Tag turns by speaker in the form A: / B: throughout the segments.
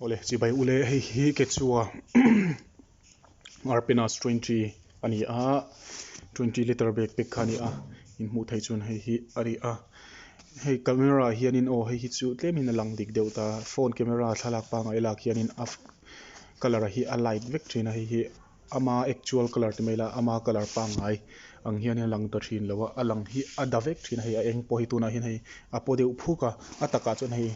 A: Awle, chibai u le, hei hi ke chu a Arpenas twenty a ni a, twenty litre bag pack kha a ni a, in hmuh theih chuan hei hi a ni a, hei camera ah hianin aw hei hi chu tlem in a lang dik deuh ta, phone camera thlalak pangngai lak hianin a colour hi a light vek thin a, hei hi Ama actual colour ti mai la, ama colour pangngai ang hian a lang ta thin lo a, a lang hi a da vek thin a, hei a eng pawh hei tunah hian hei a paw deuh phuk a, a takah chuan hei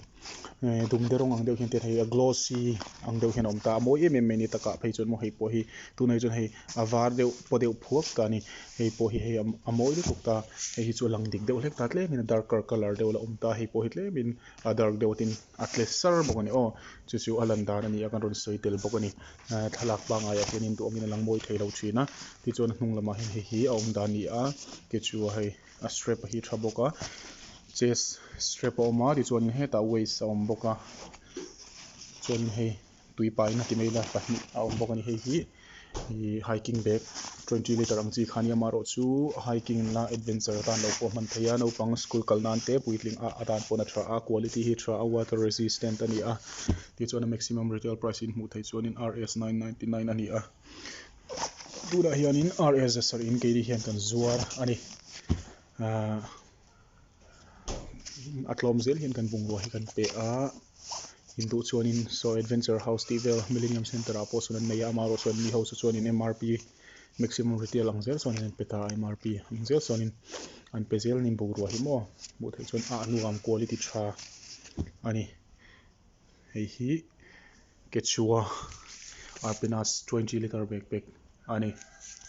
A: ehh dumde rawng ang deuh hian te hian hei a glossy ang deuh hian a awm ta a, a mawi em em mai ni takah phei chuan maw hei pawh hi tunah hi chuan hei a var deuh paw deuh phuak ta a ni, hei pawh hi hei a mawi lutuk ta a, hei hi chu a lang dik deuh hlek ta tlem in a darker colour deuh la awm ta a, hei pawh hi tlem in a dark deuh a tin. A tle sar bawk a ni. Aw, chu chu a lan dan a ni a, kan rawn sawi tel bawk a ni. Thlalak pangngai ah hian in duh awm in a lang mawi thei lo thin a. Tichuan a hnung lamah hian hei hi a awm dan a ni a, kei chu a hei a strap a hi tha bawk a, chest strap a awm a, tichuan hetah waist a awm bawk a, chuan in hei Tuipa in a ti mai ila pahnih a awm bawk a ni. Hei hi ih hiking bag twenty litre ang chi khan i ama erawh chu hiking na adventure a tan loh pawh a hman thei a. Naupang school kal nan te puitling ah a dan pawhna tha a, quality hi tha a, water resistant a ni a. Tih chuan a maximum retail price in hmuh theih chuanin Rs nine ninety nine a ni a. Tunah hianin Rs zasarh in keini hian kan zuar a ni. Ahh. a tlawm zel hian kan bungrua hi kan pe a, in duh chuanin Saw Adventure House tih vel Millenium Centre-ah pawhsawn an nei a, amah erawh chuan mi ho chu chuanin mrp, Maximum Retail, ang zel chuanin an pe ta a, mrp ang zel chuanin an pe zel ni bungrua hi maw, hmuh theih chuan a hnungam quality tha a ni, hei hi Quechua Arpenas twenty litre bag pack a ni.